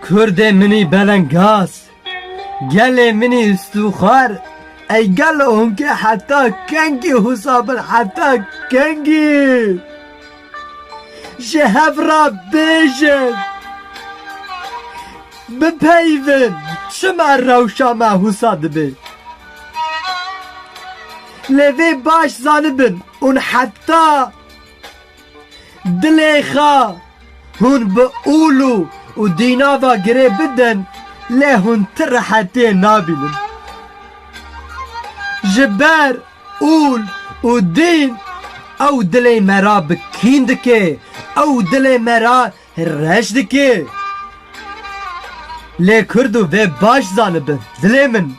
Kurdê minî belengaz, gelê minî stûxar, ey gelo hûnkê heta kengî hûsa bin heta kengî ji hev re bêjin, bipeyivin çima rewşa me hûsa dibe. Lê vê baş zanibin ûn heta. Dilê xwe hûn bi ûlû û dîna ve girê bidin lê hûn ti rehetiyê nabînin. Ji ber ûl û dîn ew dilê me re bi kîn dike, ew dilê me re Reş dike. Lê kurd û vê baş zanibin dilê min.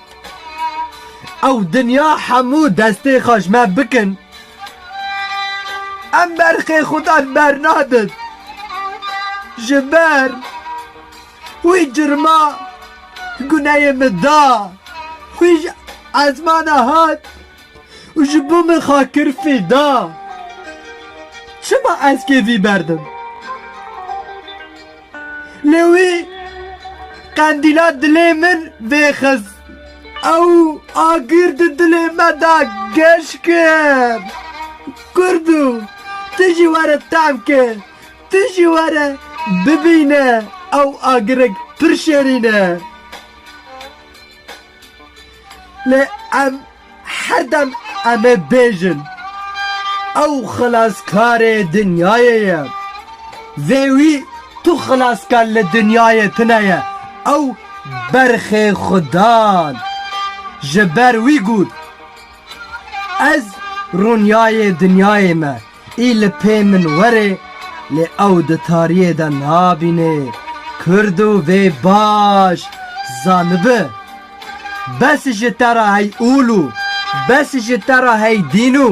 Ew dinya hemû destê xwe ji me bikin. Em berxê xudan bernadin. Ji ber wî cirma guneyê min da. Wî ji esmana hat. û ji bo min xwe kir fîda. Çima ez kêfî berdim? Lê wî qendîla dilê min vêxist. Ew agir di dilê me de geş kir. Kurdo, tu jî were tehm ke, tu jî were bibîne ew agirek pir şêrîn e. Lê em herdem em ê bêjin ew xilaskarê dinyayê ye. Vê wî tu xilaskar li dinyayê tune ye, ew berxê xwe dan. Ji ber wî got, Ez rûniyayê dinyayê me. Î li pê min were lê ew di tariyê de nabîne kurd û vê baş zanibi bes ji te re hey ûl û bes ji te re hey dîn û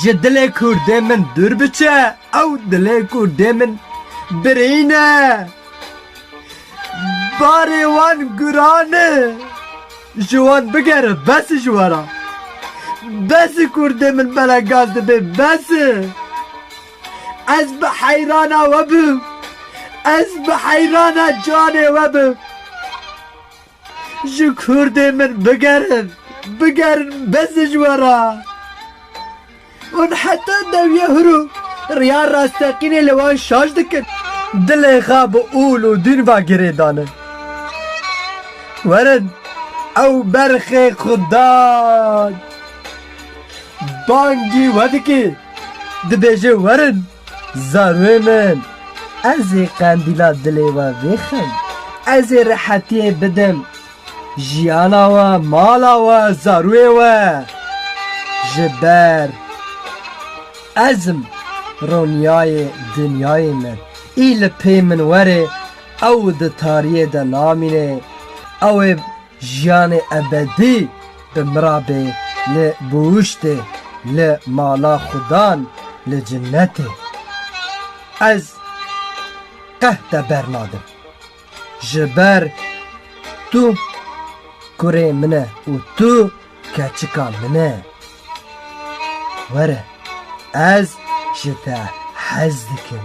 ji dilê kurdê min dûr biçe ew dilê kurdê min birîne barê wan guran e. Ji wan bigere bes e ji we re. Bes e kurdê min bela gaz dibe bes e. Ez bi heyrana we bim. Ez bi heyrana canê we bim. Ji kurdê min bigerin. Bigerin bes e ji we re. Hûn heta dewiya hûrû riya rasteqînê li wan şaş dikin. Dilê xwe bi ûl û dûn ve girê dane. Werin ew berxê xwe da bangî we dike, dibêje werin. Zarûyê min, ez ê qendîla dilê we vêxim, ez ê rehetiyê bidim jiyana we, mala we, zarûyê we. Ji ber ezm roniyayê dinyayê min, î li pê min were, ew di tariyê de namîne, ew ê. Jiyanê ebedî bi mirabê li buhuştê li mala xudan li cinetê. Ez qeh te bernadim. Ji ber tu kurê min e û tu keçika min e. Were ez ji te hez dikim.